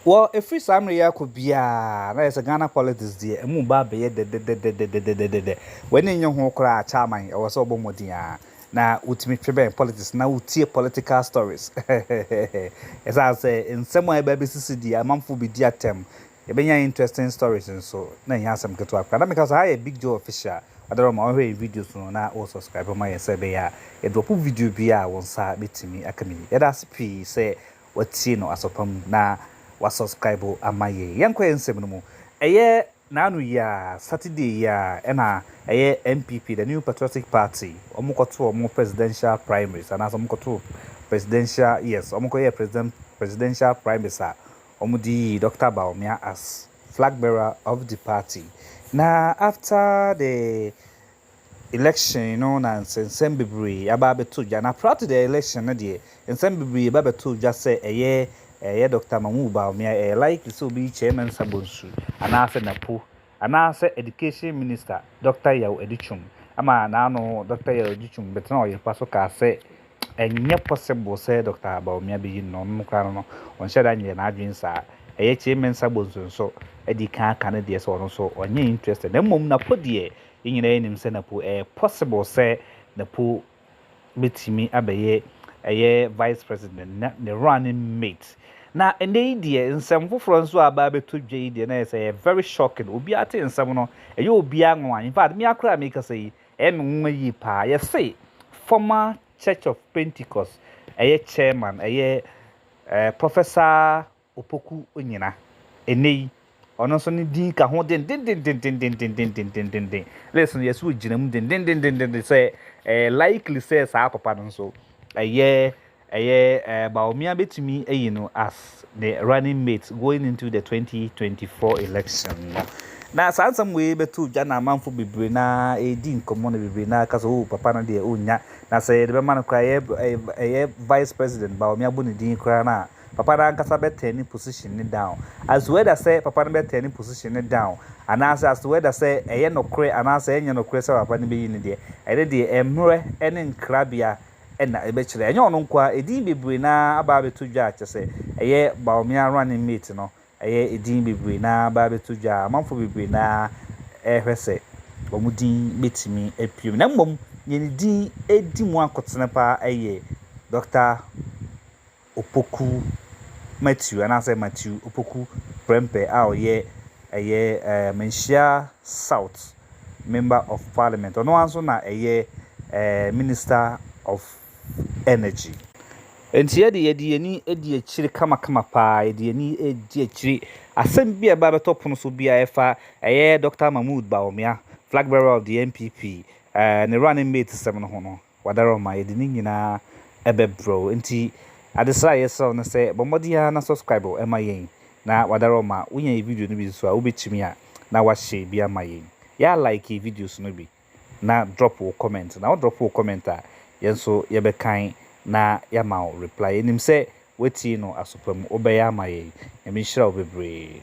Wɔ ɛfiri saa mmerɛ yi akɔ biara na ayɛ sɛ Ghana politics deɛ ɛmu reba abɛyɛ dɛdɛdɛdɛdɛdɛdɛdɛdɛdɛ. W'ani nnye ho koraa Chairman ɛwɔ sɛ wobɔ mmɔden ara na wotumi twe bɛn politics na wotie political stories heheheheheh. Ɛsiane sɛ nsɛm a ɛreba abɛsisi deɛ amanfoɔ bɛdi atɛm, yɛbɛnya interesting stories nso na ɛnyɛ asɛm ketewa koraa. Na meka sɛ ha yɛ Big Joe Official, ɔdɔ no ma wohwɛ yɛn videos no na wo subscribe ma yɛn sɛ ɛbɛyɛ a yɛ drop video biara a wo nsa bɛtumi aka bi. Yɛda ase pii sɛ watie no asɔ pa mu na wa subscribe ama yɛn. Yɛnkɔ yɛn nsɛm no mu. Ɛyɛ naano yi ara, Saturday yi ara, ɛna ɛyɛ NPP, the New Patriotic Party, wɔn kɔ too wɔn presidential primaries anaasɛ wɔn kɔ too presidential, yes, wɔn kɔ yɛɛ president, presidential primaries a wɔn de yii Dɔkta Bawumia as flag bearer of the party. Na after the Election no na nsɛnsɛm bebree aba abɛtɔ dwa. Na prior to the election no deɛ, nsɛm bebree ba bɛtoo dwa sɛ ɛyɛ ɛyɛ Doctor Mahmoud Bawumia, ɛyɛ likely sɛ ɔbɛyi Chairman Nsa Bonsu anaasɛ Napo, anaasɛ Education Minister Doctor Yaw Adutwum, ɛma n'ano Doctor Yaw Adutwum bɛtenaa ɔyɛpa so kaa sɛ, Ɛnyɛ possible sɛ Dɔkta Bawumia beyi no na ɔno koraa no no ɔnhyɛ da nyɛ n'adwene saa. Ɛyɛ Kyei Mensah Bonsu nso adi kan aka ne deɛ sɛ ɔno nso ɔnyɛ interested na mmom Napo deɛ yɛn nyinaa yɛnim sɛ Napo ɛyɛ possible sɛ Napo bɛtumi abɛyɛ ɛyɛ vice president na ne running mate. Na ɛnɛ yi deɛ nsɛm foforɔ nso a aba abɛtɔ dwa yi deɛ na ɛyɛ sɛ ɛyɛ very shocking. Obiara te nsɛm no ɛyɛ obiara nwanwa. In fact mea koraa a mekasa yi Ɛyɛ me nwonwa yie paa. Yɛse former Church of Pentecost ɛyɛ chairman ɛyɛ Professor Opoku Onyina. Ɛnnɛ yi ɔno nso ne din ka ho dendenden. List no yɛse ɔgyina mu dendendendendenden sɛ ɛyɛ likely sɛ saa papa no nso ɛyɛ Ɛyɛ eh Bawumia bɛtumi ayi no as ne running mate going into the 2024 election no. Na saa nsɛm wei bɛto dwa na amanfo bebree no ara ɛredi nkɔmmɔ na bebree no ara ka sɛ oh papa no deɛ ɔnnya. Na sɛ yɛde bɛma no koraa ɛyɛ eh, ɛyɛ vice president Bawumia bɔ ne din koraa no a, papa no ankasa bɛ turn ne position no down. As to whether sɛ papa no bɛ turn ne position no down anaasɛ as to whether sɛ ɛyɛ nokorɛ anaasɛ ɛnyɛ nokorɛ sɛ papa no bɛyi no deɛ, ɛno deɛ mmerɛ ne nkrabea na ɛbɛkyerɛ. Ɛnyɛ ɔno nko ara, edin bebree no ara aba abɛto dwa a kyerɛ sɛ ɛyɛ Bawumia running mate no, ɛyɛ edin bebree no ara aba abɛto dwa a amanfoɔ bebree no ara rehwɛ sɛ wɔn din bɛtumi apue mu. Na mmom, deɛ ne din di mu akotene pa ara yɛ Dɔkta Opoku Matthew anaasɛ Matthew Opoku Prempeh a ɔyɛ ɛyɛ ɛɛ Manhyia South Member of Parliament, ɔno ara nso na ɛyɛ ɛɛ Minister of Energy. Enti yɛde yɛde yɛn ani adi akyire kamakama paa, yɛde yɛn ani adi akyire asɛm bi a ɛba bɛtɔ pono so bi a ɛfa ɛyɛ Doctor Mahmood Bawumia, Flag Bearer of the NPP, ɛɛ ne running mate sɛm no ho no. Wadaroma, yɛde ne nyinaa bɛbrɛ wo. Nti adesrɛ a yɛsrɛ wo ne sɛ, bɔ mmɔden ara na subscribe ma yɛn. Na Wadaroma, wonya yɛn video no bi nso a, wobɛtumi a na woahyɛ bi ama yɛn. Yɛ a like videos no bi na drop wo comment. Na wo drop wo comment a, yɛn nso yɛbɛkan na yɛama wo reply. Yɛnim sɛ woatie no aso pa mu. Wobɛyɛ ama yɛn. Nyame nhyira wo bebree.